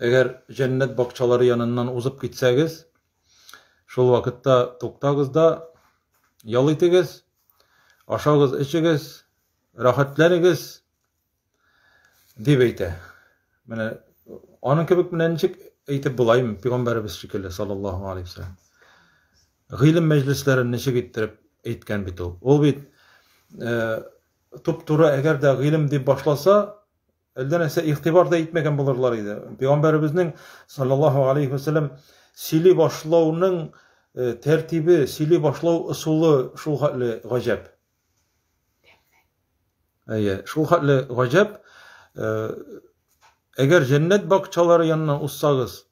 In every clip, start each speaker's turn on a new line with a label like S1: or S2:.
S1: Әгәр җәннәт бакчалары яныннан узып китсәгез, шул вакытта туктагыз да ял итегез, ашагыз, эчегез, рәхәтләнегез, дип әйтә. Менә аның кебек менә ничек әйтеп булаймы, пигамбәребез шикелле, саллаллаху алейхи вәсәләм. Гыйлем мәҗлесләрен ничек иттереп әйткән бит ул. Ул бит э, туп-туры әгәр дә гыйлем дип башласа, Әлдә нәрсә игътибар да итмәгән булырлар иде. Пәйгамбәребезнең саллаллаһу алейхи ва саллям сөйли башлауның э, тәртибе, сөйли башлау ысулы шул хәтле гаҗәп. Әйе, шул хәтле гаҗәп. Э, әгәр җәннәт бакчалары янына узсагыз,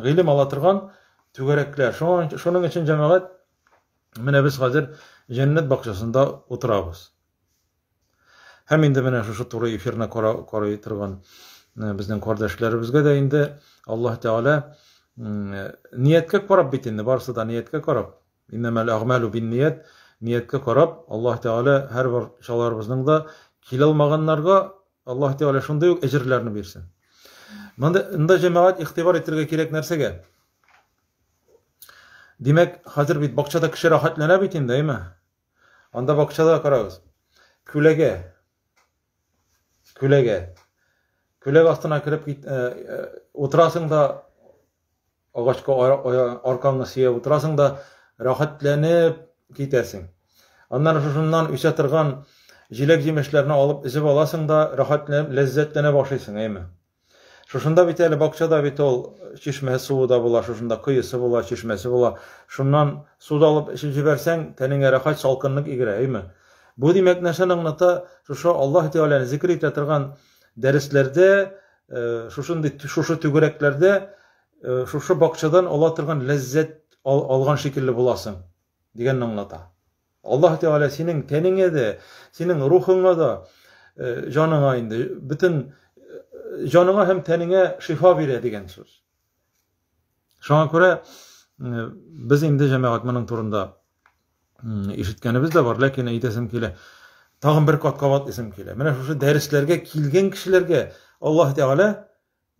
S1: Гыйлем ала торган түгәрәкләр. Шуның өчен җәмәгать менә без хәзер җәннәт бакчасында утырабыз. Һәм инде менә шушы туры эфирны карый торган э, безнең кардәшләребезгә дә инде Аллаһ Тәгалә нияткә карап бит инде барысы да нияткә карап. Иннәмәл әгмәлу бин ният нияткә карап Аллаһ Тәгалә һәрбер чаларыбызның да килә алмаганнарга Аллаһ Тәгалә шундый ук әҗерләрне бирсен. Монда инде җәмәгать игътибар итәргә кирәк нәрсәгә? Димәк, хәзер бит бакчада кеше рәхәтләнә бит инде, әйме? Анда бакчада карагыз. Күләгә. Күләгә. Күләгә астына кереп кит, э, э, утырасың да агачка аркаңны сөяп утырасың да рәхәтләнеп китәсең. Аннары шушыннан үсә торган җиләк-җимешләрне алып өзеп аласың да рәхәтләнеп ләззәтләнеп ашыйсың, әйме. Шушында бит әле бакчада бит ул чишмә суы да була, шушында коесы була, чишмәсе була. Шуннан су алып эчеп җибәрсәң, тәнеңә рәхәт салкынлык игерә, әйме. Бу димәк нәрсәне аңлата? Шушы Аллаһ Тәгаләне зикр итә торган дәресләрдә Шушындый шушы түгәрәкләрдә шушы бакчадан ала торган ләззәт алган шикелле буласың дигәнне аңлата. Аллаһ Тәгалә синең тәнеңә дә, синең рухыңа да, җаныңа инде бөтен җаныңа һәм тәнеңә шифа бирә дигән сүз. Шуңа күрә без инде җәмәгать моның турында ишеткәнебез дә бар, ләкин әйтәсем килә. Тагын бер кат кабатлыйсым килә. Менә шушы дәресләргә килгән кешеләргә Аллаһ Тәгалә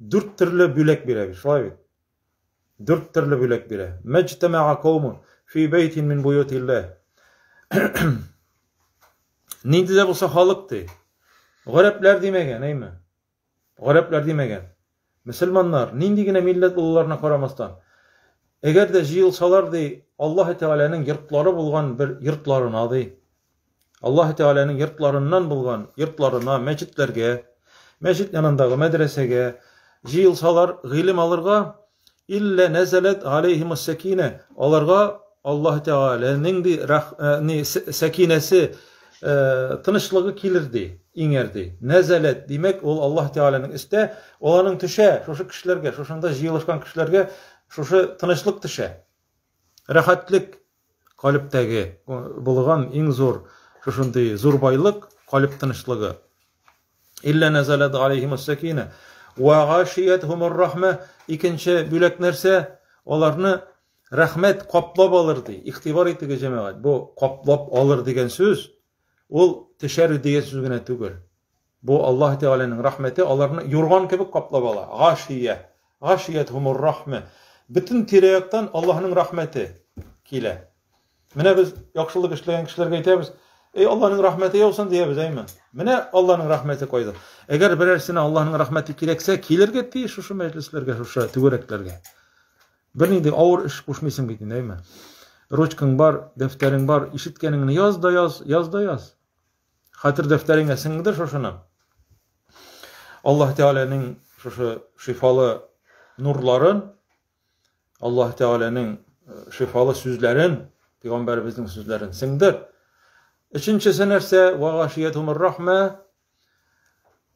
S1: дүрт төрле бүләк бирә бит, шулай бит. Дүрт төрле бүләк бирә. Мәҗтәмәга каумы фи бәйтин мин буютиллә. Нинди дә булса халык ди. Гарәпләр димәгән, әйме? Гарәпләр димәгән. Мөселманнар, нинди генә милләт булуларына карамастан, әгәр дә җыелсалар, ди, Аллаһы Тәгаләнең йортлары булган бер йортларына, ди, Аллаһы Тәгаләнең йортларыннан булган йортларына, мәчетләргә, мәчет янындагы мәдрәсәгә җыелсалар, гыйлем алырга, Илля нәзәләт галәйһимус сәкинә. Аларга Аллаһ Тәгаләнең ди рах, э, ни, сәкинәсе, э, тынычлыгы килер ди, иңәр ди. Нәзәләт, димәк, ул Аллаһ Тәгаләнең өстә, ул аның төшә, шушы кешеләргә, шушында җыелышкан кешеләргә шушы тынычлык төшә. Рәхәтлек калебтәге булган иң зур шушындый зур байлык калеб тынычлыгы илля назалат алейхим сакина ва гашиятхум рахма икенче бүләк нәрсә аларны рәхмәт каплап алыр ди игътибар итегез җәмәгать бу каплап алыр дигән сүз ул төшәр дигән сүз генә түгел Бу Аллаһ Тәгаләнең рәхмәте аларны юрган кебек каплап ала. Гашия. Гашиятһумур рахмә. Бөтен тирә-яктан Аллаһның рәхмәте килә. Менә без яхшылык эшләгән кешеләргә әйтәбез, Эй, Аллаһның рәхмәте яусын диябез, әйме? Менә Аллаһның рәхмәте кайда. Әгәр берәрсенә Аллаһның рәхмәте кирәксә, килергә тиеш шушы мәҗлесләргә, шушы түгәрәкләргә. Бернинди авыр эш кушмыйсың бит инде, әйме? Ручкаң бар, дәфтәрең бар, ишеткәнеңне яз да яз, яз да яз. Хәтер дәфтәреңә сеңдер шушыны. Аллаһ Тәгаләнең шушы шифалы нурларын, Аллаһ Тәгаләнең э, шифалы сүзләрен, пәйгамбәребезнең сүзләрен сеңдер. Өченчесе нәрсә? Ва гашиятумур рахма.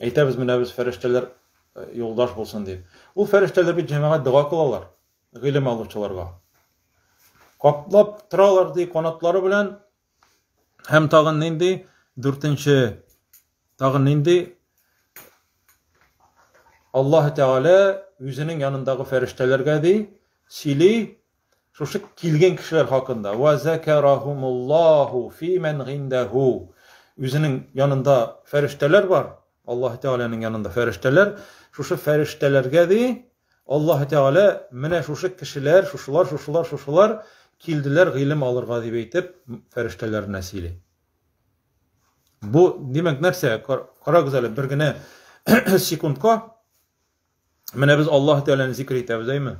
S1: Әйтәбез менә без фәрештәләр э, юлдаш булсын дип. Ул фәрештәләр бит җәмәгать дога кылалар гыйлем алучыларга. Каплап торалар ди канатлары белән һәм тагын нинди дүртенче тагын нинди Аллаһ Тәгалә үзенең янындагы фәрештәләргә ди сөйли Шушы килгән кешеләр хакында. Ва закарахумуллаху фи ман гиндаху. Үзенең янында фәрештәләр бар. Аллаһ Тәгаләнең янында фәрештәләр. Шушы фәрештәләргә ди Аллаһ Тәгалә менә шушы кешеләр, шушылар, шушылар, шушылар килделәр гыйлем алырга дип әйтеп, фәрештәләренә сөйли. Бу, димәк, нәрсә? Карагыз әле, бер генә секундка Менә без Аллаһ Тәгаләне зикр итәбез, әйме?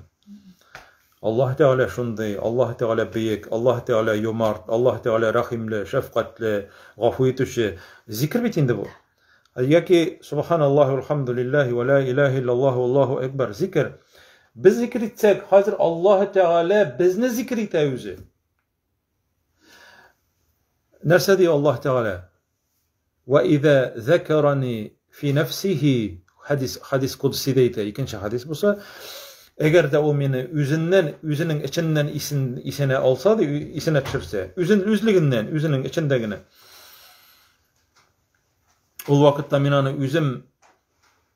S1: Аллаһ Тәгалә шундый, Аллаһ Тәгалә бөек, Аллаһ Тәгалә юмарт, Аллаһ Тәгалә рәхимле, шәфкатьле, гафу итүче. Зикр бит инде бу. Яки субханаллаһи валхамдулиллаһи ва ла илаһа иллаллаһу Аллаһу акбар. Зикр. Без зикр итсәк, хәзер Аллаһ Тәгалә безне зикр итә үзе. Нәрсә ди Аллаһ Тәгалә? Ва иза закарани фи нафсихи хадис хадис кудси дейта икенче хадис буса әгәр дә ул мине үзеннән үзенең эченнән исен исенә алса ди исенә төшерсә үзен үзлегеннән үзенең эчендә генә ул вакытта мин аны үзем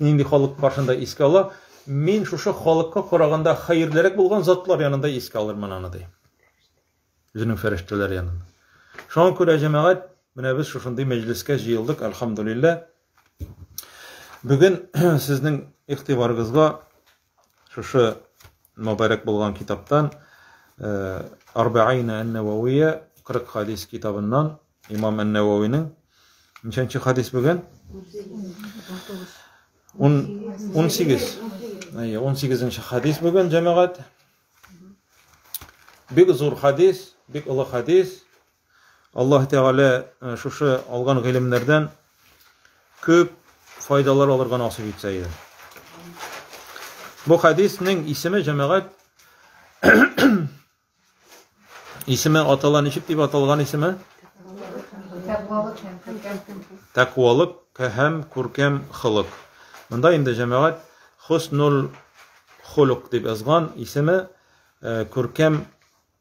S1: нинди халык каршында искә ала, мин шушы халыкка караганда хәерлерәк булган затлар янында искә алырмын аны, ди. Үзенең фәрештәләр янында. Шуңа күрә, җәмәгать, менә без шушындый мәҗлескә җыелдык, альхамдулиллә. Бүген сезнең игътибарыгызга Шушы мөбарәк булган китаптан э, Арбаина ән-Нававия 40 хадис китабыннан имам ән-Нававинең ничәнче хадис бүген? 18. Әйе, 18нче хадис бүген җәмәгать. Бик зур хадис, бик олы хадис. Аллаһ Тәгалә э, шушы алган гыйлемнәрдән күп файдалар алырга насыйп итсә иде. Бу хадиснең исеме җәмәгать исеме атала ничек дип аталган исеме? Тәквалык һәм күркәм хылык. Монда инде җәмәгать хуснул хулук дип язган исеме э, күркәм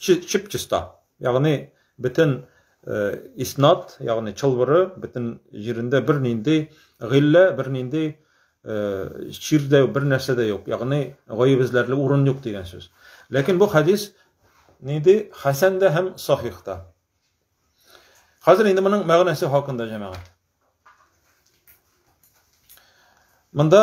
S1: чып чиста ягъни бөтен э, иснат ягъни чылбыры бөтен җирендә бернинди гыйлә бернинди э, чир дә бер нәрсә дә юк ягъни гаеп эзләрлек урын юк дигән сүз ләкин бу хәдис нинди хәсән дә һәм сахих та хәзер инде моның мәгънәсе хакында җәмәгать монда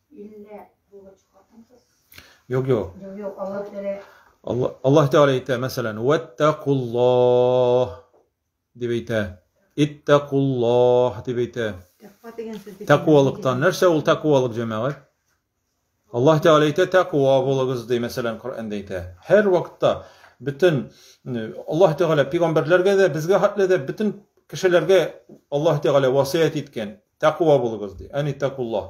S1: Илле булгач хатынсыз. Юк, юк. Юк, юк, Аллаһ Тәгалә. Аллаһ Аллаһ Тәгалә әйтә, мәсәлән, "Ваттакуллах" дип әйтә. "Иттакуллах" дип әйтә. Тәкъва дигән сүз бит. Тәкъвалыктан. Нәрсә ул тәкъвалык, җәмәгать? Аллаһ Тәгалә әйтә, "Тәкъва булыгыз", ди, мәсәлән, Коръәндә әйтә. Һәр вакытта бөтен Аллаһ Тәгалә пигамбәрләргә дә, безгә хәтле дә бөтен кешеләргә Аллаһ Тәгалә васыять иткән. Тәкуа булыгыз ди. Әни тәкулла.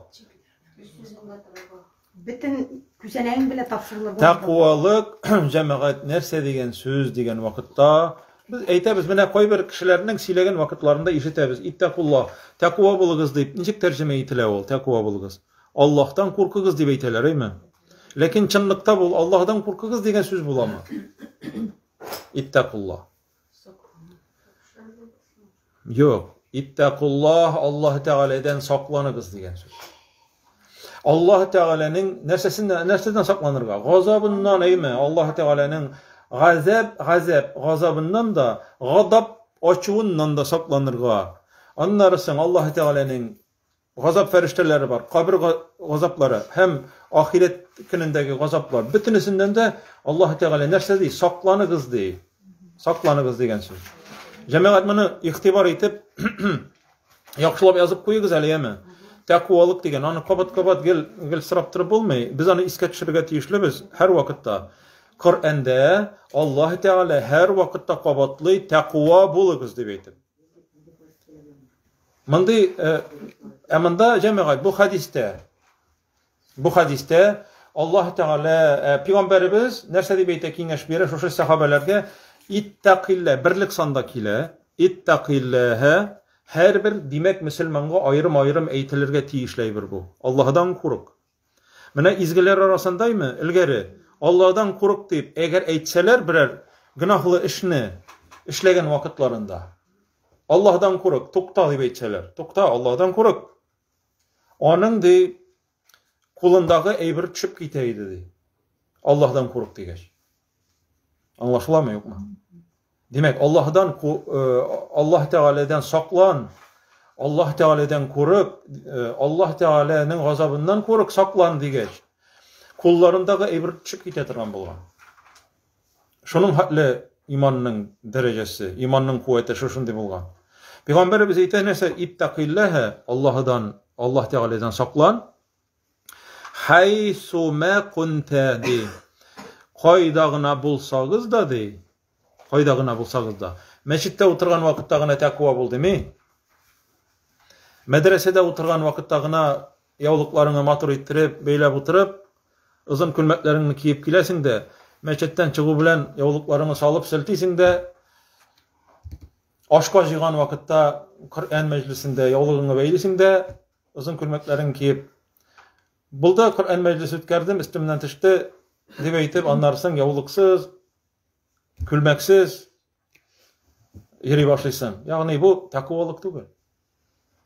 S2: Битен күзәнәгең белән тапшырылыр. Тәкуалык
S1: җәмәгать нәрсә дигән сүз дигән вакытта Без әйтәбез, менә кайбер кешеләрнең сөйләгән вакытларында ишетәбез, иттәкулла, тәкуа булыгыз дип, ничек тәрҗемә ителә ул, тәкуа булыгыз? Аллаһтан куркыгыз дип әйтәләр, әйме? Ләкин чынлыкта бул, Аллаһдан куркыгыз дигән сүз буламы? Иттәкулла. Юк. Иттәкуллаһ Аллаһ Тәгаләдән сакланыгыз дигән сүз. Аллаһ Тәгаләнең нәрсәсеннән нәрсәдән сакланырга? Газабыннан әйме? Аллаһ Тәгаләнең газаб, газаб, газабыннан да, гадап ачуыннан да сакланырга. Аннары соң Аллаһ Тәгаләнең Газап фәрештәләре бар, кабер газаплары һәм ахирәт көнендәге газаплар. Бөтенесеннән дә Аллаһ Тәгалә нәрсә ди? Сакланыгыз ди. Сакланыгыз дигән сүз. Җәмәгать моны игътибар итеп яхшылап язып куегыз әле, яме. Тәкуалык дигән, аны кабат-кабат гел гел сорап торып булмый. Без аны искә төшерергә тиешлебез һәр вакытта. Коръәндә Аллаһ Тәгалә һәр вакытта кабатлый, тәкуа булыгыз дип әйтеп. Мондый ә монда җәмәгать бу хәдистә. Бу хәдистә Аллаһ Тәгалә э, пигамбәребез нәрсә дип әйтә киңәш бирә шушы сәхабәләргә иттәкиллә берлек санда килә иттәкилләһә һәрбер димәк мөселманга аерым-аерым әйтелергә тиешле әйбер бу Аллаһдан курык Менә изгеләр арасында име, элгәре, Алладан курык дип, әгәр әйтсәләр берәр гөнаһлы эшне эшләгән вакытларында, Аллаһдан курык, тукта дип әйтсәләр, тукта, Аллаһдан курык. Аның ди кулындагы әйбер төшеп китә иде ди. Аллаһдан курык дигәч. Аңлашыламы, юкмы? Димәк, Аллаһдан Аллаһ Тәгаләдән саклан, Аллаһ Тәгаләдән курык, Аллаһ Тәгаләнең газабыннан курык, саклан дигәч, кулларындагы әйбер төшеп китә торган булган. Шуның хәтле иманның дәрәҗәсе, иманның куәте шушындый булган. Пәйгамбәребез әйтә нәрсә, иттәкилләһә, Аллаһдан, Аллаһ Тәгаләдән саклан, Хәйсумә кунтә ди. Кайда гына булсагыз да ди. Кайда гына булсагыз да. Мәчеттә утырган вакытта гына тәкъва бул дими. Мәдрәсәдә утырган вакытта гына яулыкларыңны матур иттереп, бәйләп утырып, озын күлмәкләреңне киеп киләсең дә, мәчеттән чыгу белән яулыкларыңны салып селтисең дә, ашка җыйган вакытта Коръән мәҗлесендә яулыгыңны бәйлисең дә, озын күлмәкләрен киеп булды коръән мәҗлесе үткәрдем өстемнән төште дип әйтеп аннары соң яулыксыз күлмәксез йөри башлыйсың ягъни бу тәкуалык түгел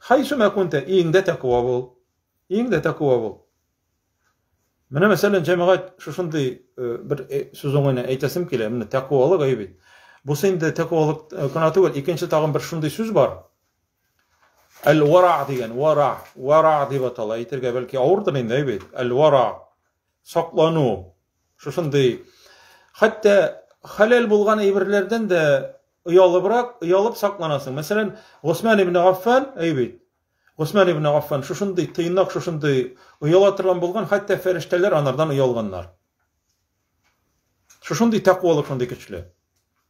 S1: хайсу мәкунте өеңдә тәкуа бул өеңдә тәкуа бул менә мәсәлән җәмәгать шушындый э, бер э, сүз уңайына әйтәсем килә менә тәкуалык әйбит бусы инде тәкуалык э, кына түгел икенче тагын бер шундый сүз бар Әл-вара дигән, вара, вара дип атала. Әйтергә бәлки авырдыр инде бит. Әл-вара. Саклану. Шушындый. Хәтта халал булган әйберләрдән дә оялыбрак, оялып сакланасың. Мәсәлән, Госман ибн Аффан, әйбит. Госман ибн Аффан шушындый тыйнак, шушындый ояла торган булган, хәтта фәрештәләр анардан оялганнар. Шушындый тәкъвалык шундый көчле.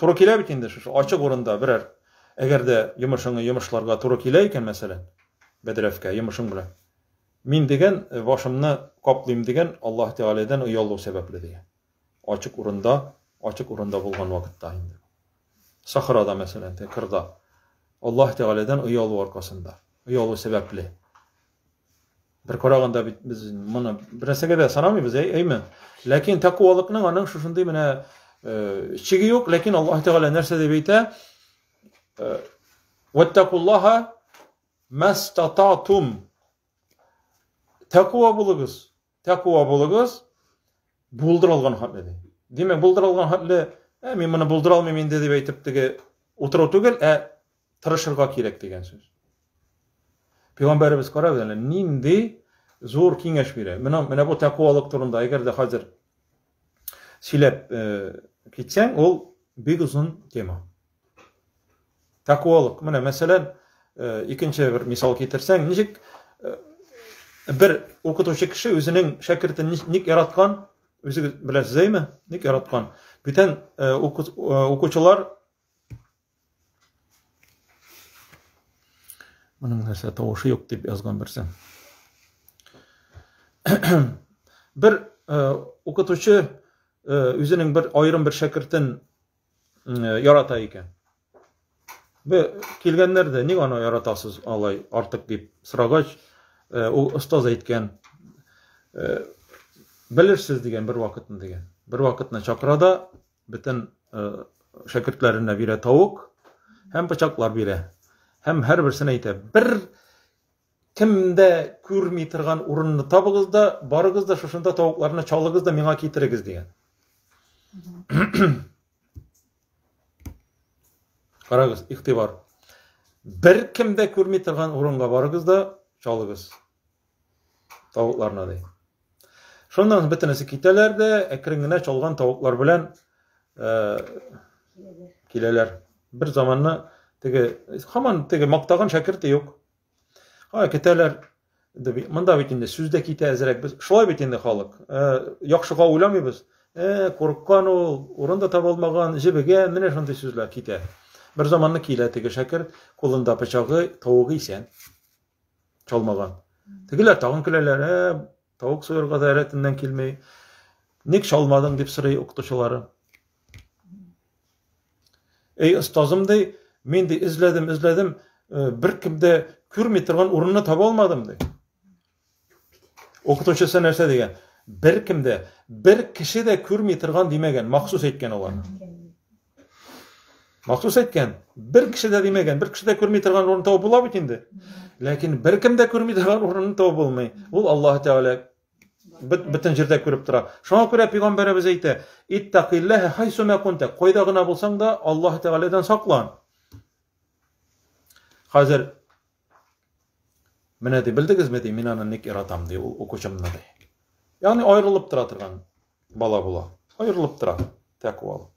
S1: Туры килә бит инде шушы ачык урында берәр әгәр дә йомышыңны йомышларга туры килә икән, мәсәлән, бәдрәфкә йомышың белән. Мин дигән э, башымны каплыйм дигән Аллаһ Тәгаләдән оялу сәбәпле дигән. Ачык урында, ачык урында булган вакытта инде. Сахрада, мәсәлән, кырда. Аллаһ Тәгаләдән оялу аркасында, оялу сәбәпле. Бер караганда бит без моны бер нәрсәгә дә санамыйбыз, әй, әйме? Ләкин тәкъвалыкның аның шушындый менә э, чиге юк, ләкин Аллаһ Тәгалә нәрсә дип әйтә? Э, Ваттакуллаһа мастататум. Тәкъва булыгыз. Тәкуа булыгыз, булдырылган хәтле ди. Димәк, булдырылган хәтле, ә мин моны булдыра алмыйм инде дип әйтеп теге утыру түгел, ә тырышырга кирәк дигән сүз. Пәйгамбәребез карагыз әле нинди зур киңәш бирә. Менә менә бу тәкуалык турында, әгәр дә хәзер сөйләп э, китсәң, ул бик озын тема. Тәкуалык. Менә мәсәлән, э, икенче бер мисал китерсәң, ничек э, бер укытучы кеше үзенең шәкертен ник яраткан, үзе беләсезме, ник яраткан. Бүтән укучылар Моның нәрсә тавышы юк дип язган берсе. бер укытучы үзенең бер аерым бер шәкертен ярата икән. Бе килгәннәр дә ник аны яратасыз алай артык дип сорагач, ул остаз әйткән белерсез дигән бер вакытны дигән. Бер вакытны чакырада бөтен шәкертләренә бирә тавык һәм пычаклар бирә. Һәм һәрберсенә әйтә, бер кемдә күрми торган урынны табыгыз да, барыгыз да шушында тавыкларны чалыгыз да миңа китерегез дигән. Карагыз, ихтибар. Бер кемдә күрми торган урынга барыгыз да чалыгыз. Тавыкларына ди. Шуннан бөтенесе китәләр дә, әкрен генә чалган тавыклар белән э, киләләр. Бер заманны теге хаман теге мактаган шәкерте юк. Ха, китәләр. Монда бит инде сүз дә китә әзрәк. Без шулай бит инде халык. Э, яхшыга уйламыйбыз. Э, курыккан ул, урын да таба алмаган, җебегән, менә шундый сүзләр китә. Бер заманны килә теге шәкерт, кулында пычагы, тавыгы исән. чалмаган. Тегеләр тагын көләләр, ә тавык суырга да рәтеннән килми. Ник чалмадың дип сорый укытучылары. Эй, остазым ди, мин ди эзләдем, эзләдем, э, бер кемдә күрми торган урынны таба алмадым ди. Укытучысы нәрсә дигән? Бер кемдә, бер кеше дә күрми торган димәгән, махсус әйткән алар. Махсус әйткән, бер кеше дә димәгән, бер кеше дә күрми торган урын табып була бит инде. Ләкин бер кем дә күрми торган урынны табып булмый. Ул Аллаһ Тәгалә бөтен җирдә күреп тора. Шуңа күрә пәйгамбәребез әйтә: "Иттакиллаһа хайсума кунта", кайда гына булсаң да, Аллаһ Тәгаләдән саклан. Хәзер Менә ди, белдегезме ди, мин аны ник яратам ди, ул укучымны ди. Ягъни аерылып тора торган бала була. Аерылып тора тәкъвалык.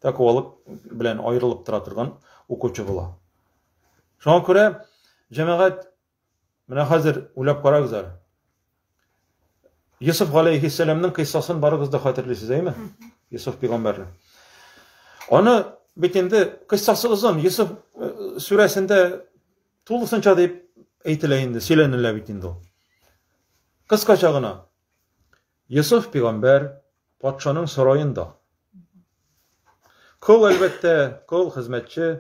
S1: Тәкъвалык белән аерылып тора торган укучы була. Шуңа күрә җәмәгать менә хәзер уйлап карагыз әле. Йосыф галәйһиссәламның кыйссасын барыгыз да хәтерлисез, әйме? Йосыф пигамбәрне. Аны бит инде кыйссасы озын, Йосыф э, сүрәсендә тулысынча дип әйтелә инде, сөйләнелә бит инде ул. Кыскача гына. Йосыф пигамбәр патшаның сараенда. Кол әлбәттә, кол хезмәтче.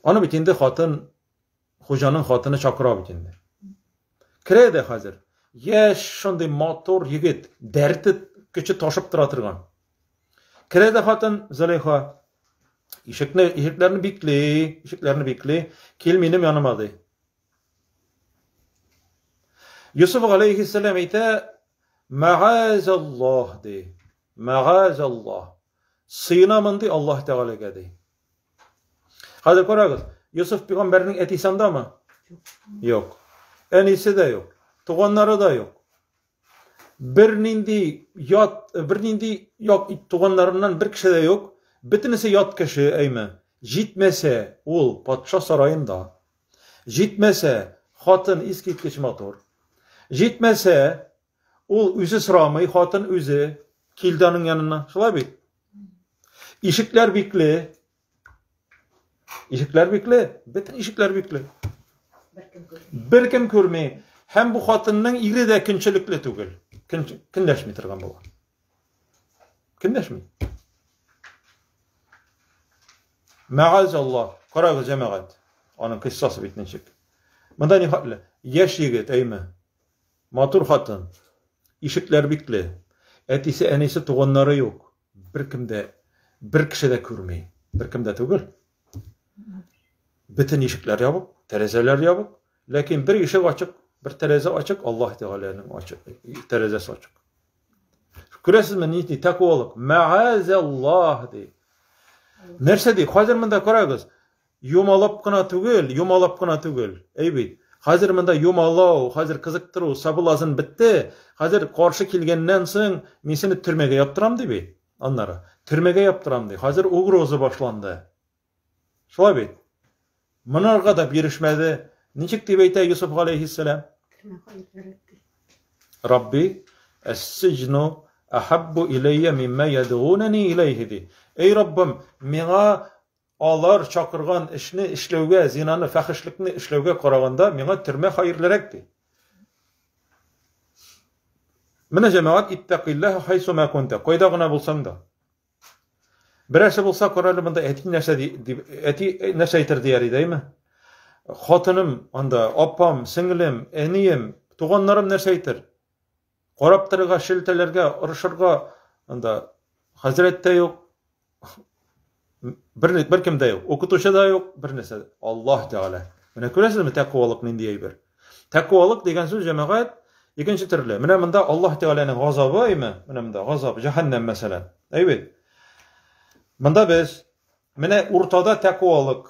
S1: Аны бит инде хатын Хуҗаның хатыны чакыра бит инде. Керә дә хәзер. Яшь, шундый матур егет, дәрте көче ташып тора торган. Керә дә хатын Зөләйха. Ишекне, ишекләрне бикли, ишекләрне бикли. Кил минем яныма ди. Юсуф алейхиссалам әйтә, Мәгазаллах ди. Мәгазаллах. Сыйынамын ди Аллаһ Тәгаләгә ди. Хәзер карагыз, Йосыф пигамбәрнең әтисе андамы? Юк. Әнисе дә юк, туганнары да юк. Бер нинди ят, бер нинди як туганнарыннан бер кеше дә юк. Бөтенесе ят кеше, әйме. Җитмәсә, ул патша сараенда. Җитмәсә, хатын искиткеч матур. Җитмәсә, Ул үзе сорамый, хатын үзе килде аның янына. Шулай бит? Ишекләр бикле. Ишекләр бикле. Бөтен ишекләр бикле. Бер кем күрми. Һәм бу хатынның ире дә көнчелекле түгел. Көн көнләшми торган була. Көнләшми. Мәгаз Аллах. Карагыз, җәмәгать. Аның кыссасы бит ничек. Монда ни хәтле? Яшь егет, әйме? Матур хатын. Ишекләр бикле. Әтисе, әнисе, туганнары юк. Беркем дә, бер кеше дә күрми. Беркем дә түгел. Бөтен ишекләр ябык, тәрәзәләр ябык. Ләкин бер ишек ачык, бер тәрәзә ачык, Аллаһ Тәгаләнең ачык, тәрәзәсе ачык. Күрәсезме, ни ди, тәкуалык. Мәгазәллаһ ди. Нәрсә ди? Хәзер монда карагыз. Юмалап кына түгел, юмалап кына түгел. Әй бит, хәзер монда юмалау, хәзер кызыктыру, сабылазын бетте, хәзер каршы килгәннән соң мин сине төрмәгә яптырам ди бит. Аннары, төрмәгә яптырам ди, хәзер угроза башланды. Шулай бит. Монарга да бирешмәде. Ничек дип әйтә Юсуф галәйһиссәлам? Рабби, әс-сиҗну ахаббу иләйя мимма ядгунани иләйһи ди. Эй Раббым, миңа Алар чакырган эшне эшләүгә, зинаны, фәхешлекне эшләүгә караганда, миңа төрмә хаирлерәк, ди. Менә җәмәгать иттәкыйлләһ хайсума кунта, кайда гына булсаң да. Берәрсе булса, карале монда әти нәрсә дип, әти нәрсә әйтер дияр иде, әйме? Хатыным анда, апам, сеңлем, әнием, туганнарым нәрсә әйтер? Карап торырга, шелтәләргә, орышырга анда хәзрәт тә юк, бер, бер кем дә юк, укытучы да юк, бер нәрсә. Аллаһ Тәгалә. Менә күрәсезме тәкъвалык нинди әйбер? Тәкъвалык дигән сүз җәмәгать икенче төрле. Менә монда Аллаһ Тәгаләнең газабы, әйме? Менә монда газап, җәһәннәм мәсәлән. Әйбит. Монда без менә уртада тәкъвалык.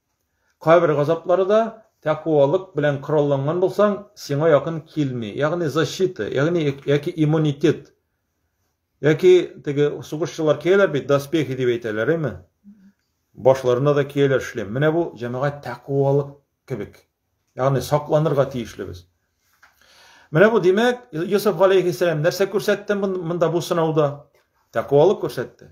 S1: Кабер газаплары да тәкуалык белән коралланган булсаң, сиңа якын килми. Ягъни защита, ягъни яки иммунитет. Яки теге сугышчылар кияләр бит, доспехи дип әйтәләр, әйме? Башларына да кияләр шлем. Менә бу җәмәгать тәкуалык кебек. Ягъни сакланырга тиешле без. Менә бу димәк, Йосыф алейхиссалам нәрсә күрсәтте монда бу сынауда? Тәкуалык күрсәтте.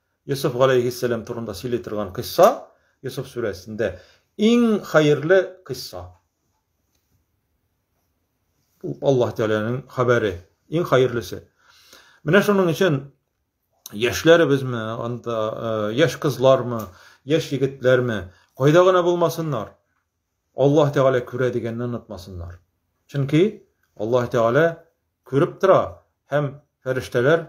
S1: Йосыф галәйһиссәлам турында сөйли торган кыйсса, Йосыф сүрәсендә иң хәерле кыйсса. Бу Аллаһ Тәгаләнең хәбәре, иң хәерлесе. Менә шуның өчен яшьләребезме, анда э, яшь кызлармы, яшь егетләрме, кайда гына булмасыннар, Аллаһ Тәгалә күрә дигәнне онытмасыннар. Чөнки Аллаһ Тәгалә күреп тора һәм фәрештәләр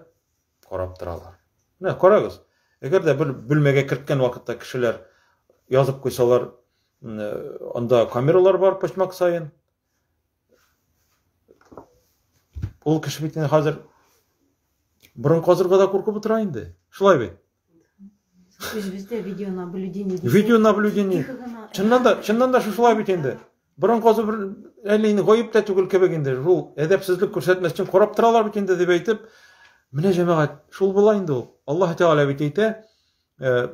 S1: карап торалар. Менә карагыз, әгәр дә бер бүлмәгә керткән вакытта кешеләр язып куйсалар, анда камералар бар почмак саен. Ул кеше бит инде хәзер борын казырга да куркып утыра инде. Шулай бит.
S2: Үзебездә видео наблюдение. Видео
S1: наблюдение. Чыннан да, чыннан да шулай бит инде. Борын казу бер әле инде гаеп тә түгел кебек инде. Шул әдәпсезлек күрсәтмәс өчен карап торалар бит инде дип әйтеп, менә җәмәгать, шул була инде ул. Аллаһ Тәгалә бит әйтә, э,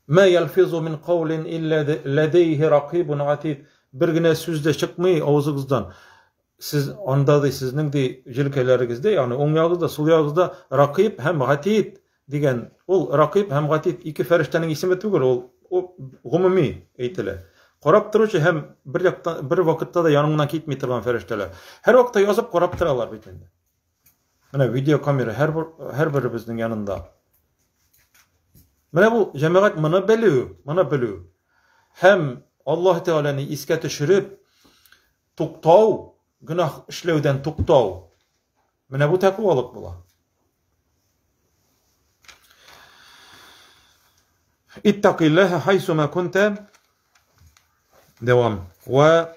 S1: Мә ялфизу мин каулин илля ләдейхи ракибун атид. Бер генә сүз дә чыкмый авызыгыздан. Сез анда ди сезнең ди җилкәләрегездә, ягъни уң ягыгызда, сул ягыгызда ракиб һәм гатид дигән. Ул ракиб һәм гатид ике фәрештәнең исеме түгел, ул гомуми әйтелә. Карап торучы һәм бер яктан бер вакытта да яныңнан китми торган фәрештәләр. Һәр вакытта язып карап торалар бит инде. Менә видеокамера һәр һәр беребезнең янында. Менә бу җәмәгать моны белү, моны белү. Һәм Аллаһ Тәгаләне искә төшереп туктау, гөнаһ эшләүдән туктау. Менә бу тәкъвалык була. Иттакиллаһа хайсума кунта. Дәвам. Ва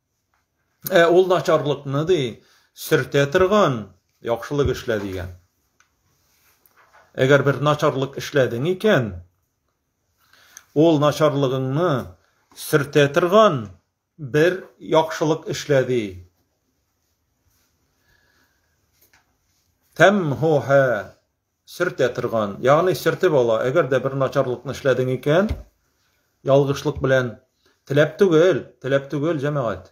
S1: Ә ул начарлыкны ди, сөртә торган яхшылык эшлә дигән. Әгәр бер начарлык эшләдең икән, ул начарлыгыңны сөртә торган бер яхшылык эшлә ди. Тәмһуһа сөртә торган, ягъни сөртеп ала. Әгәр дә бер начарлыкны эшләдең икән, ялгышлык белән теләп түгел, теләп түгел, җәмәгать.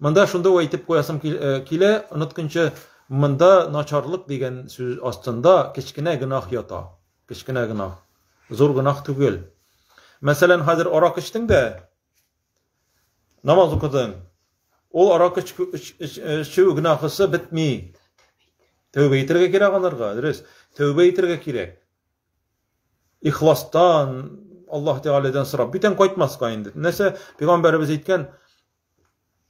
S1: Монда шунда әйтеп куясым э, килә, онытканчы монда начарлык дигән сүз астында кечкенә гөнаһ ята. Кечкенә гөнаһ. Зур гөнаһ түгел. Мәсәлән, хәзер арак эчтең дә, Намаз укыдың. Ул арак эчү гөнаһысы бетми. Тәүбә итәргә кирәк анарга, дөрес. Тәүбә итәргә кирәк. Ихластан Аллаһ Тәгаләдән сорап, бүтән кайтмаска инде. Нәрсә пәйгамбәребез әйткән?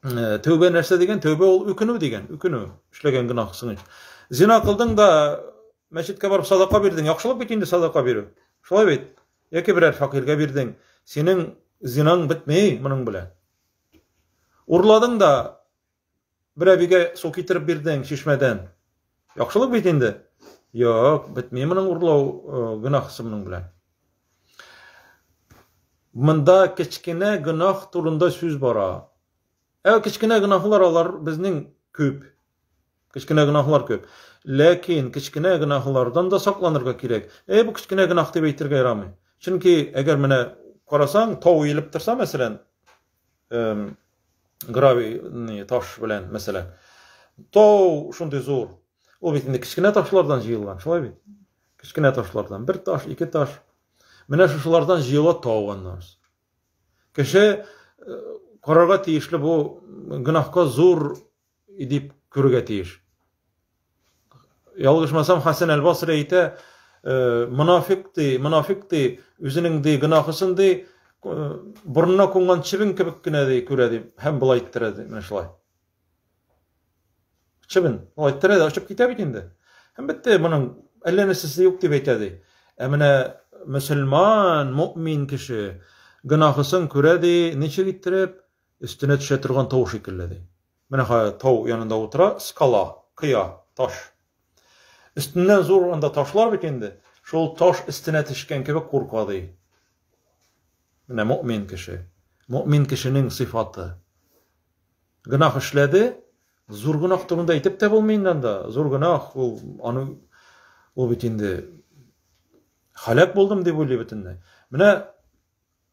S1: Э, тәүбә нәрсә дигән? Тәүбә ул үкенү дигән, үкенү. Эшләгән гөнаһсың өчен. Зина кылдың да мәчеткә барып садака бирдең. Яхшылык бит инде садака бирү. Шулай бит. Яки берәр факиргә бирдең. Синең зинаң бетмей моның белән. Урладың да бер әбигә су китереп бирдең чишмәдән. Яхшылык бит инде. Юк, бетми моның урлау э, гөнаһысы моның белән. Монда кечкенә гөнаһ турында сүз бара. Ә кечкенә гөнаһлар алар безнең күп. Кечкенә гөнаһлар күп. Ләкин кечкенә гөнаһлардан да сакланырга кирәк. Әй бу кечкенә гөнаһ дип әйтергә ярамый. Чөнки әгәр менә карасаң, тау иелеп торса, мәсәлән, гравий таш белән мәсәлән тау шундый зур ул бит инде кечкенә ташлардан җыелган шулай бит кечкенә ташлардан бер таш ике таш менә шушылардан җыела тау аннан кеше карарга тиешле бу гөнаһка зур дип күрергә тиеш. Ялгышмасам, Хәсән әл-Басри әйтә, э, монафик ди, монафик ди, үзенең ди гынахысын ди, э, борынына кунган чебен кебек кенә ди күрә ди, һәм болай иттерә ди, менә шулай. Чебен, болай иттерә дә очып китә бит инде. Һәм бетте, моның әллә нәрсәсе юк дип әйтә ди. Ә менә мөселман, мөмин кеше гынахысын күрә ди, ничек иттереп? Өстенә төшә торган тау шикелле, ди. Менә хәзер тау янында утыра, скала, кыя, таш. Өстеннән зур анда ташлар бит инде, шул таш өстенә төшкән кебек курка, ди. Менә мөмин кеше. Мөмин кешенең сыйфаты. Гөнаһ эшләде, зур гөнаһ турында әйтеп тә булмый инде анда. Зур гөнаһ ул аны ул бит инде халәк булдым дип уйлый бөтенләй. Менә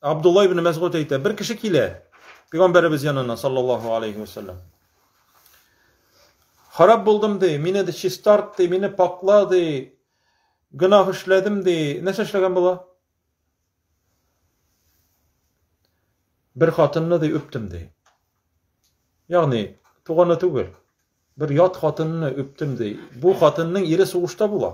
S1: Абдулла ибн Мәсгуд әйтә, бер кеше килә Пәйгамбәребез янына, саллаллаху алейхи ва саллям. Харап булдым ди, мине ди чистарт ди, мине пакла ди, гөнаһ эшләдем ди. Нәрсә эшләгән була? Бер хатынны ди үптем ди. Ягъни туганы түгел. Бер ят хатынны үптем ди. Бу хатынның ире сугышта була.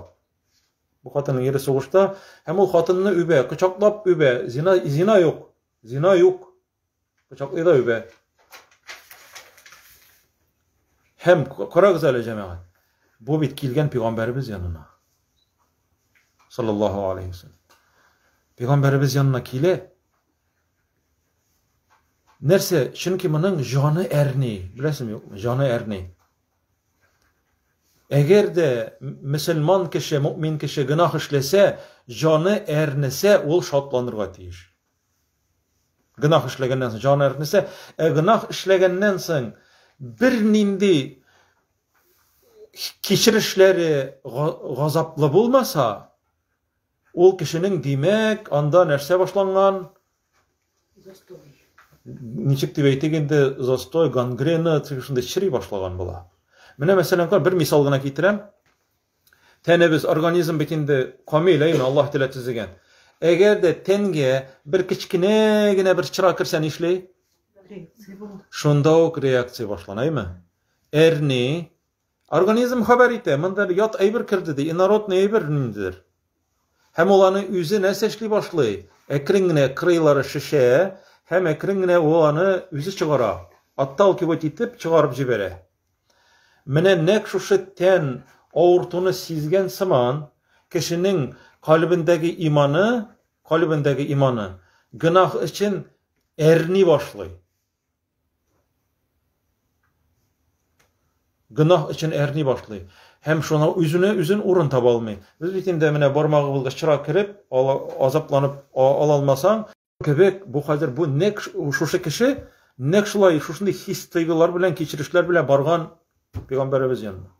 S1: Бу хатынның ире сугышта, һәм ул хатынны үбә, кочаклап үбә. Зина, зина юк. Зина юк. Кочаклый да үбә. Һәм карагыз әле, җәмәгать. Бу бит килгән пәйгамбәребез янына. Саллаллаһу алейхи ва саллям. Пәйгамбәребез янына килә. Нәрсә? Чөнки моның җаны әрни. Беләсеңме, юкмы? Җаны әрни. Әгәр дә мөселман кеше, мөмин кеше гөнаһ эшләсә, җаны әрнесә, ул шатланырга тиеш. Гөнаһ эшләгәннән соң җаны әрнесә, ә гөнаһ эшләгәннән соң бернинди кичерешләре газаплы булмаса, Ул кешенең, димәк, анда нәрсә башланган?
S2: Застой.
S1: Ничек дип әйтик инде, застой, гангрена, шунда чери башлаган була. Менә мәсәлән, бер мисал гына китерәм. Тәнебез, организм бит инде камил, әйме, Аллаһ теләп төзегән. Әгәр дә тәнгә бер кечкенә генә бер чыра керсә нишли? Шунда ук реакция башлана, әйме? Әрни, Организм хәбәр итә, монда бер ят әйбер керде ди, инородный әйбер ниндидер. Һәм ул аны үзе нәрсә эшли башлый? Әкрен генә крылары шешә, һәм әкрен генә ул аны үзе чыгара, отталкивать итеп чыгарып җибәрә. Менә нәк шушы тән авыртуны сизгән сыман, кешенең калебендәге иманы, калебендәге иманы гөнаһ өчен әрни башлый. Гөнаһ өчен әрни башлый һәм шуна үзенә үзен урын таба алмый. Без бит инде менә бармагыбызга чыра кереп, азапланып ала алмасаң, кебек, бу хәзер бу нәк шушы кеше нәк шулай шушындый хис-тойгылар белән, кичерешләр белән барган пәйгамбәребез янына.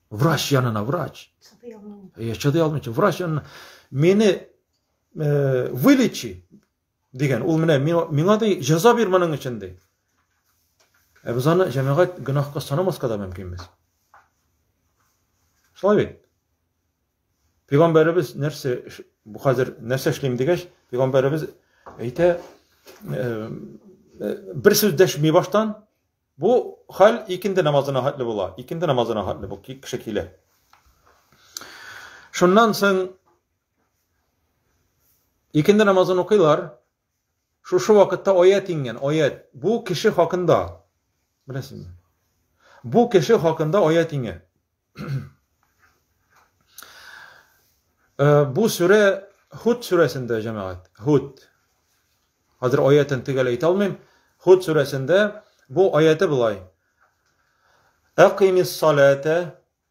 S1: Врач янына, врач. Чыдый алмыйча. Э, чыдый алмыйча. Врач янына. Мине э, вылечи, Дигән, ул менә миңа ди җәза бир моның өчен ди. Ә без аны җәмәгать гөнаһка санамаска да мөмкинбез. Шулай бит. Пәйгамбәребез нәрсә бу хәзер нәрсә эшлим дигәч, пәйгамбәребез әйтә бер сүз дәшми баштан бу хәл икенде намазына хәтле була. Икенде намазына хәтле бу кеше килә. Шуннан соң Икенде намазын укыйлар. Шушы вакытта аят иңгән, аят. Бу кеше хакында. Беләсезме? Бу кеше хакында аят иңә. Э, бу сүрә Худ сүрәсендә, җәмәгать. Худ. Хәзер аятын төгәл әйтә алмыйм. Худ сүрәсендә бу аяты былай. Әкимис салата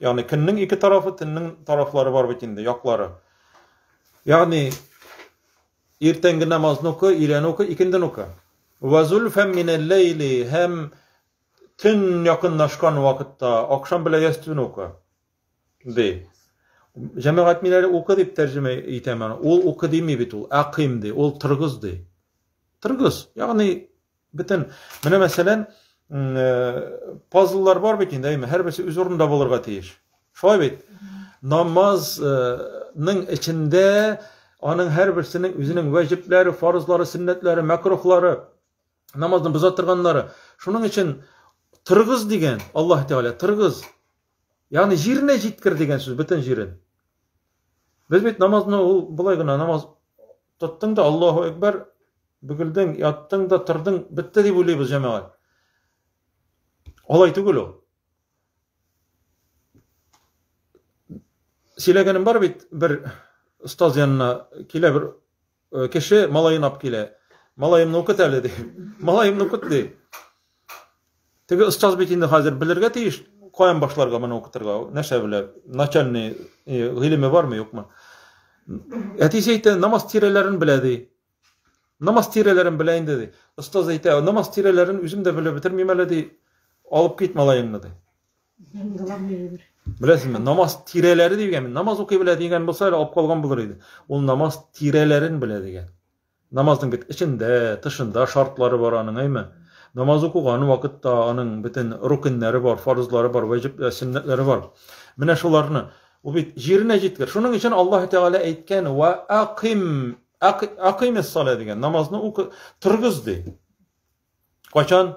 S1: Ягъни көннең ике тарафы, төннең тарафлары бар бит инде, яклары. Ягъни иртәнге намазны уку, өйләнү уку, икенден уку. Ва зульфам минәл ләйли һәм төн якынлашкан вакытта акшам белән ястүн уку. Ди. Җәмәгать мин әле укы дип тәрҗемә итәм аны. Ул укы дими бит ул, әкыйм ди, ул тыргыз ди. Тыргыз, ягъни Бөтен, менә мәсәлән, э, пазллар бар бит инде, әйме, һәрберсе үз урынында булырга тиеш. Шулай бит? Намазның э, эчендә аның һәрберсенең үзенең вәҗипләре, фарызлары, сөннәтләре, мәкрухлары, намазны боза торганнары. Шуның өчен тыргыз дигән Аллаһ Тәгалә, тыргыз. Ягъни җиренә җиткер дигән сүз, бөтен җирен. Без бит намазны ул болай гына намаз Тоттың да Аллаһу әкбәр, бөгелдең, яттың да тордың, бетте дип уйлыйбыз җәмәгать. Алай түгел ул. Сөйләгәнем бар бит, бер остаз янына килә бер э, кеше, малаен алып килә. Малаемны укыт әле ди. Малаемны укыт ди. Теге остаз бит инде хәзер белергә тиеш, каян башларга моны укытырга, нәрсә белә, начальный э, гыйлеме бармы, юкмы? Әтисе әйтә, намаз тирәләрен белә ди. Намаз тирәләрен белә инде ди. Остаз әйтә, намаз тирәләрен үзем дә белеп бетермим әле ди. Алып кит малаеңны ди. Беләсезме, намаз тирәләре дигән, намаз укый белә дигән булса, алып калган булыр иде. Ул намаз тирәләрен белә дигән. Намазның бит эчендә, тышында шартлары бар аның, әйме? Намаз укыган вакытта аның бөтен рукеннәре бар, фарызлары бар, вәҗип, э, сөннәтләре бар. Менә шуларны ул бит җиренә җиткер. Шуның өчен Аллаһ Тәгалә әйткән, "Ва аким, акимис салә" дигән, намазны укы, торгыз ди. Качан?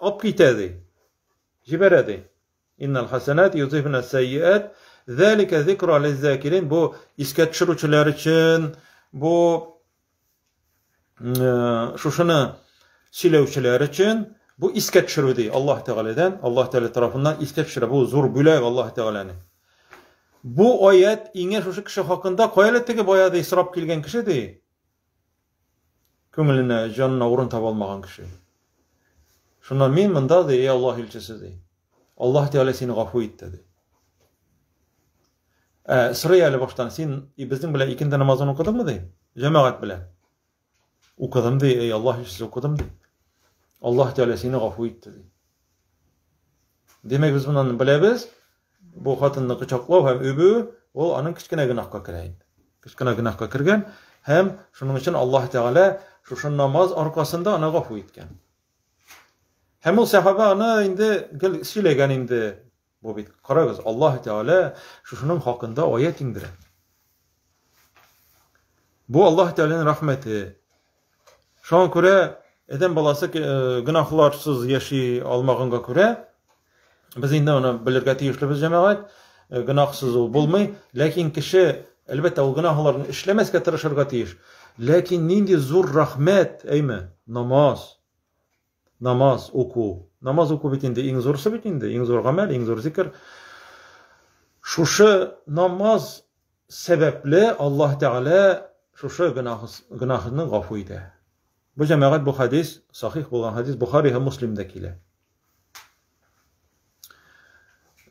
S1: Алып китә ди. Җибәрә ди. Иннал хасанат юзифна сәйиат. Зәлика зикра лиззакирин. Бу искә төшерүчеләр өчен, бу э, шушыны сөйләүчеләр өчен бу искә төшерү ди Аллаһ Тәгаләдән, Аллаһ Тәгалә тарафыннан искә төшерә. Бу зур бүләк Аллаһ Тәгаләнең. Бу аят иңе шушы кеше хакында, кая әле теге баягы исрап килгән кеше ди. Күңеленә, җанына урын таба алмаган кеше. Шуннан мин монда, ди, эй Аллаһ илчесе, ди. Аллаһ Тәгалә сине гафу итте, ди. Ә сорый әле баштан, син безнең белән икенде намазын укыдыңмы, ди? Җәмәгать белән. Укыдым, ди, эй Аллаһ илчесе, укыдым, ди. Аллаһ Тәгалә сине гафу итте, ди. Демәк, без моннан беләбез, Бу хатынны кочаклау һәм үбү ул аның кечкенә гөнаһка керә инде. Кечкенә гөнаһка кергән һәм шуның өчен Аллаһ Тәгалә шушы намаз аркасында аны гафу иткән. Һәм ул сәхабә аны инде гел сөйләгән инде. Бу бит карагыз, Аллаһ Тәгалә шушының хакында аят иңдерә. Бу Аллаһ Тәгаләнең рәхмәте. Шуңа күрә Адәм баласы э, гөнаһларсыз яши алмаганга күрә, без инде аны белергә тиешлебез җәмәгать, э, гөнаһсыз ул булмый, ләкин кеше әлбәттә ул гөнаһларны эшләмәскә тырышырга тиеш. Ләкин нинди зур рәхмәт, әйме, намаз. намаз уку. Намаз уку бит инде иң зурысы бит инде, иң зур гамәл, иң зур зикр. Шушы намаз сәбәпле Аллаһ Тәгалә шушы гөнаһны гафу итә. Бу җәмәгать бу хадис, сахих булган хадис Бухари һәм Муслимдә килә.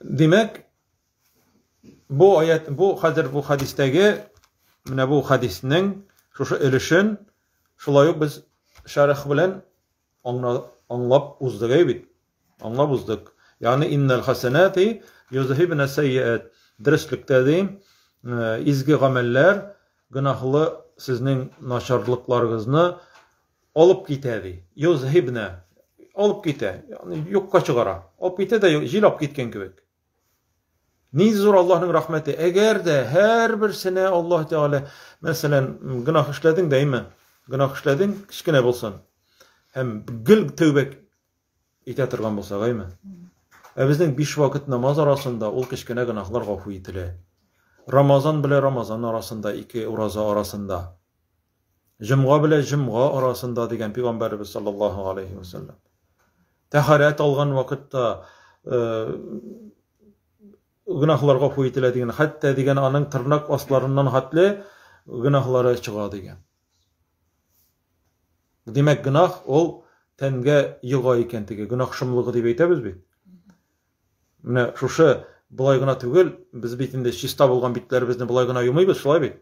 S1: Димәк, Бу аят, бу хәзер бу хадистәге менә бу хадиснең шушы өлешен шулай ук без шәрх белән аңлап уздык әй бит. Аңлап уздык. Ягъни иннал хасанати юзһибна сайят. Дөреслеккә дим, э, изге гамәлләр гөнаһлы сезнең начарлыкларыгызны алып китә ди. Юзһибна алып китә, ягъни юкка чыгара. Алып китә дә җил алып киткән кебек. Ни зур Аллаһның рәхмәте. Әгәр дә һәрберсенә Аллаһ Тәгалә, мәсәлән, гөнаһ эшләдең дәйме? Гөнаһ эшләдең, кечкенә булсын. Һәм гел тәүбә итә торган булса, гайме? Ә безнең биш вакыт намаз арасында ул кечкенә гөнаһлар гафу ителә. Рамазан белән Рамазан арасында, ике ураза арасында. Җомга белән җомга арасында дигән пигамбәребез саллаллаһу алейхи ва саллям. Тәһарәт алган вакытта э, гүнаһлар гафу ителә дигән, хәтта дигән аның тырнак асларыннан хатле гүнаһлары чыга дигән. Димәк, гүнаһ ул тәнгә йога икән теге гүнаһ шомлыгы дип әйтәбез бит. Менә шушы болай гына түгел, без бит инде чиста булган битләребезне болай гына юмыйбыз, шулай бит?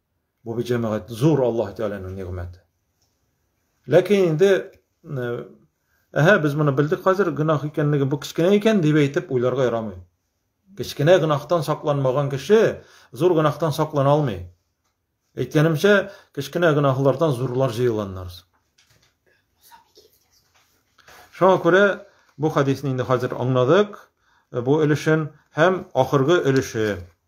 S1: Бу бит җәмәгать зур Аллаһ Тәгаләнең нигъмәте. Ләкин инде Әһә, без моны белдек хәзер, гөнаһ икәнлеге бу кечкенә икән дип әйтеп уйларга ярамый. Кечкенә гөнаһтан сакланмаган кеше зур гөнаһтан саклана алмый. Әйткәнемчә, кечкенә гөнаһлардан зурлар җыелганнар. Шуңа күрә бу хадисне инде хәзер аңладык. Бу өлешен һәм ахыргы өлеше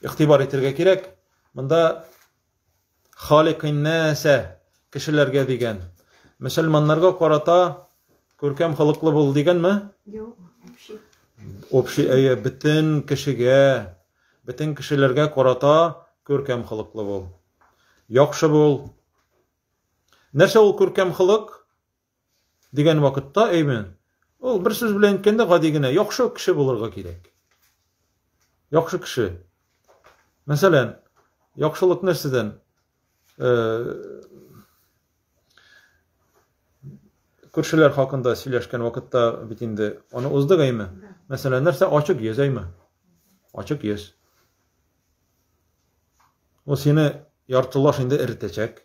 S1: Игътибар итәргә кирәк. Монда халикиннәсә кешеләргә дигән. Мөселманнарга карата күркәм халыклы бул дигәнме?
S2: Юк, общий. Общий, әйе,
S1: бөтен кешегә, бөтен кешеләргә карата күркәм халыклы бул. Яхшы бул. Нәрсә ул күркәм халык? дигән вакытта әймен ул бер сүз белән әйткәндә гади генә яхшы кеше булырга кирәк яхшы кеше мәсәлән яхшылык нәрсәдән күршеләр хакында сөйләшкән вакытта бит инде аны уздык әйме мәсәлән нәрсә ачык йөз әйме ачык йөз ул сине яртылаш инде эретәчәк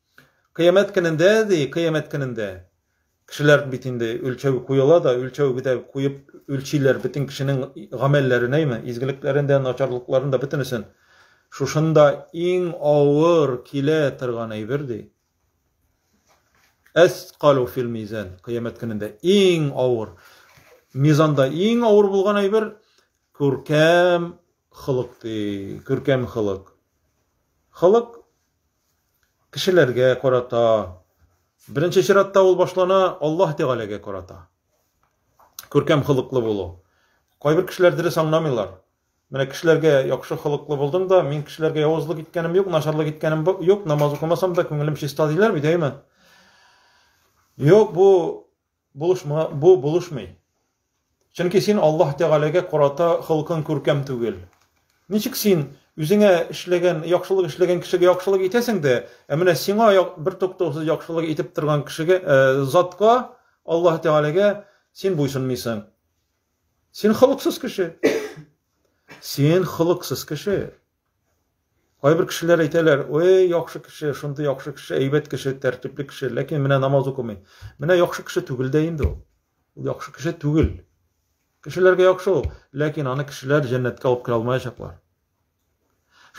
S1: Кыямәт көнендә, ди, кыямәт көнендә кешеләр бит инде үлчәү куела да, үлчәү бит куеп үлчиләр бөтен кешенең гамәлләрен, әйме, изгелекләрен дә, начарлыкларын да бөтенесен. Шушында иң авыр килә торган әйбер ди. Әскалу фил мизан, кыямәт көнендә иң авыр. Мизанда иң авыр булган әйбер күркәм хылык ди, күркәм хылык. Хылык кешеләргә карата, беренче чиратта ул башлана Аллаһ Тәгаләгә карата. Күркәм холыклы булу. Кайбер кешеләр дөрес аңламыйлар. Менә кешеләргә яхшы холыклы булдым да, мин кешеләргә явызлык иткәнем юк, начарлык иткәнем юк, намаз укымасам да күңелем чиста диләр бит, әйме? Юк, бу Булышма, бу булышмый. Чөнки син Аллаһ Тәгаләгә карата холкың күркәм түгел. Ничек син үзеңә эшләгән, яхшылык эшләгән кешегә яхшылык итәсең дә, ә менә сиңа бер туктаусыз яхшылык итеп торган кешегә, э, затка, Аллаһ Тәгаләгә син буйсынмыйсың? Син холыксыз кеше. Син холыксыз кеше. Кайбер кешеләр әйтәләр, ой, яхшы кеше, шундый яхшы кеше, әйбәт кеше, тәртипле кеше, ләкин менә намаз укымый. Менә яхшы кеше түгел дә инде ул. Ул яхшы кеше түгел. Кешеләргә яхшы ул, ләкин аны кешеләр җәннәткә алып керә алмаячаклар.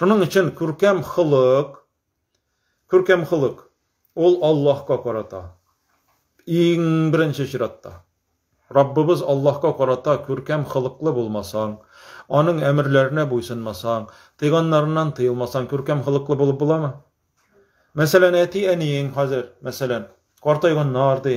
S1: Шуның өчен күркәм холык, Күркәм холык, ул Аллаһка карата, иң беренче чиратта. Раббыбыз Аллаһка карата күркәм холыклы булмасаң, аның әмерләренә буйсынмасаң, тыйганнарыннан тыелмасаң, күркәм холыклы булып буламы? Мәсәлән, әти-әниең хәзер, мәсәлән, картайганнар ди.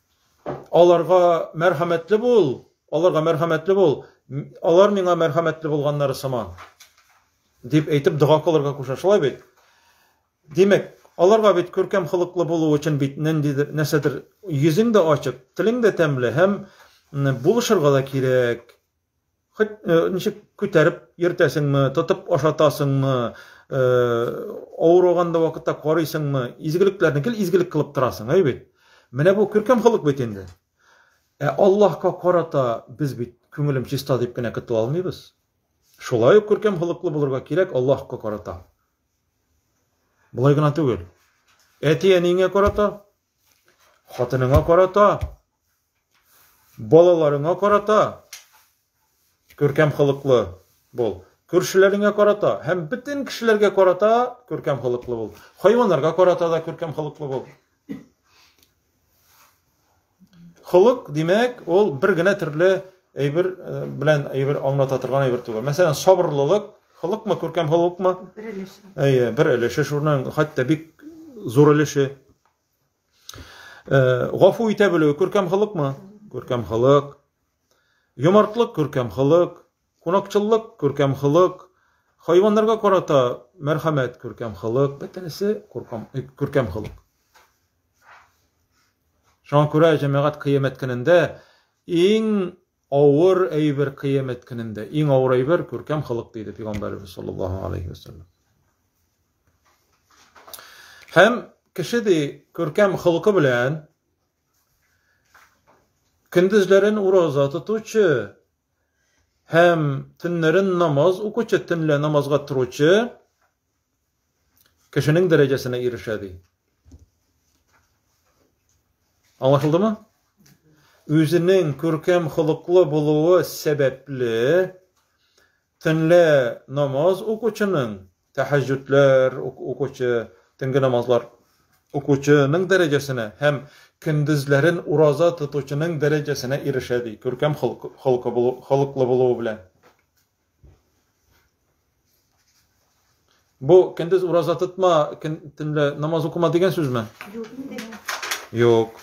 S1: Аларга мәрхәмәтле бул, аларга мәрхәмәтле бул, алар миңа мәрхәмәтле булганнары сыман. Дип әйтеп дога кылырга куша, шулай бит? Димәк, аларга бит күркәм холыклы булу өчен бит ниндидер нәрсәдер йөзең дә ачык, телең дә тәмле һәм булышырга да кирәк. Хоть э, ничек күтәреп йөртәсеңме, тотып ашатасыңмы, э, авырыганда вакытта карыйсыңмы, изгелекләрне кел изгелек кылып торасың, әй бит. Менә бу күркәм холык бит инде. Ә Аллаһка карата без бит күңелем чиста дип кенә көтә алмыйбыз. Шулай ук күркәм холыклы булырга кирәк Аллаһка карата. Болай гына түгел. Әти әниеңә карата, хатыныңа карата, Балаларыңа карата күркәм холыклы бул. Күршеләреңә карата һәм бөтен кешеләргә карата күркәм холыклы бул. Хайваннарга карата да күркәм холыклы бул. Холык, димәк, ул бер генә төрле әйбер э, белән әйбер аңлата торган әйбер түгел. Мәсәлән, сабырлылык, холыкмы, күркәм холыкмы? Бер өлеше. Әйе, бер өлеше шуның хәтта бик зур өлеше. Гафу итә белү күркәм холыкмы? Күркәм холык. Юмартлык күркәм холык, кунакчыллык күркәм холык, хайваннарга карата мәрхәмәт күркәм холык, бөтенесе күркәм күркәм холык. Шуңа күрә җәмәгать кыямәт көнендә иң Авыр әйбер кыямәт көнендә. Иң авыр әйбер күркәм холык диде пигамбәребез саллаллаһу алейһи вәсәлләм. Һәм кеше ди күркәм холкы белән көндезләрен ураза тотучы һәм төннәрен намаз укучы, төнлә намазга торучы Кешенең дәрәҗәсенә ирешә ди. Аңлашылдымы? Үзенең күркәм холыклы булуы сәбәпле төнлә намаз укучының, тәһәҗҗүдләр укучы, төнге намазлар укучының дәрәҗәсенә һәм көндезләрен ураза тотучының дәрәҗәсенә ирешә ди, күркәм холыклы булуы белән. Бу көндез ураза тотма, көн төнлә намаз укыма дигән сүзме? Юк инде. Юк.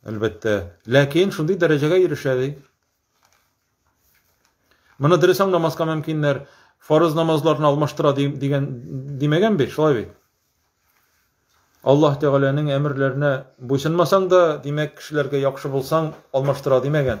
S1: Әлбәттә. Ләкин шундый дәрәҗәгә ирешә ди. Моны дөрес аңламаска мөмкиннәр. Фарыз намазларны алмаштыра дигән димәгән бит, шулай бит. Аллаһ Тәгаләнең әмерләренә буйсынмасаң да, димәк, кешеләргә яхшы булсаң, алмаштыра димәгән.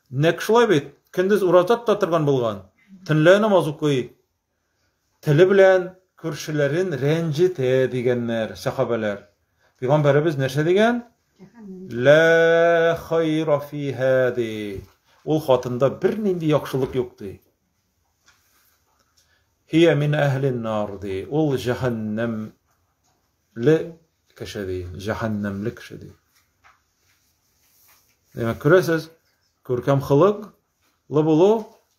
S1: Нәкъ шулай бит, көндез ураза тота торган булган, төнлә намаз укый. Теле белән күршеләрен рәнҗетә, дигәннәр, сәхабәләр. Пигамбәребез нәрсә дигән? Лә хайра фиһа, ди. Ул хатында бернинди яхшылык юк, ди. Хия мин әһлин нар, ди. Ул җәһәннәм Ле кеше ди, җәһәннәмле кеше ди. Димәк, күрәсез, күркәм хылык, лы булу,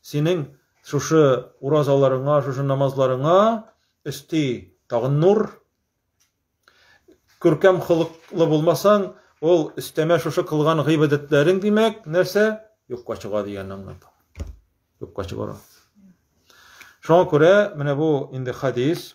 S1: синең шушы уразаларыңа, шушы намазларыңа өсти тагын нур. Күркәм хылыклы булмасаң, ул өстәмә шушы кылган гыйбадәтләрең, димәк, нәрсә? Юкка чыга дигәнне аңлата. Юкка чыгара. Шуңа күрә, менә бу инде хадис,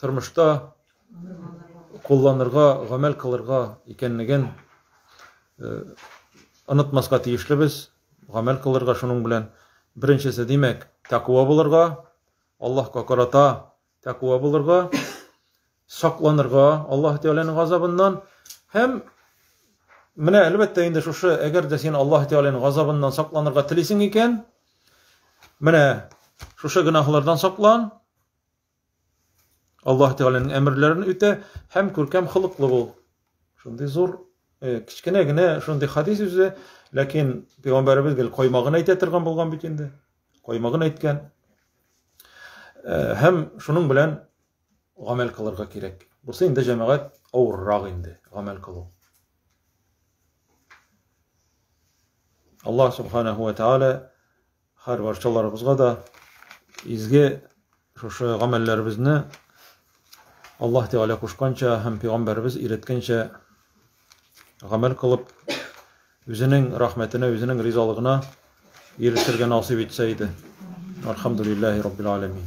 S1: тормышта кулланырга, гамәл кылырга икәнлеген онытмаска тиешлебез, гамәл кылырга шуның белән. Беренчесе, димәк, тәкъва булырга, Аллаһка карата тәкъва булырга, сакланырга Аллаһ Тәгаләнең газабыннан һәм менә әлбәттә инде шушы, әгәр дә син Аллаһ Тәгаләнең газабыннан сакланырга телисең икән, менә шушы гөнаһлардан саклан, Аллаһ Тәгаләнең әмерләрен үтә һәм күркәм холыклы бул. Шундый зур, э, кечкенә генә шундый хадис үзе, ләкин пәйгамбәребез гел каймагын әйтә торган булган бит инде. Каймагын әйткән. Э, һәм шуның белән гамәл кылырга кирәк. Бусы инде җәмәгать авыррак инде гамәл кылу. Аллаһ субханаһу ва тааля Һәр барчаларыбызга да изге шушы гамәлләребезне Аллаһ Тәгалә кушканча һәм пәйгамбәребез өйрәткәнчә гамәл кылып, үзенең рәхмәтенә, үзенең ризалыгына ирешергә насыйп итсә иде. Алхамдулиллахи раббил алямин.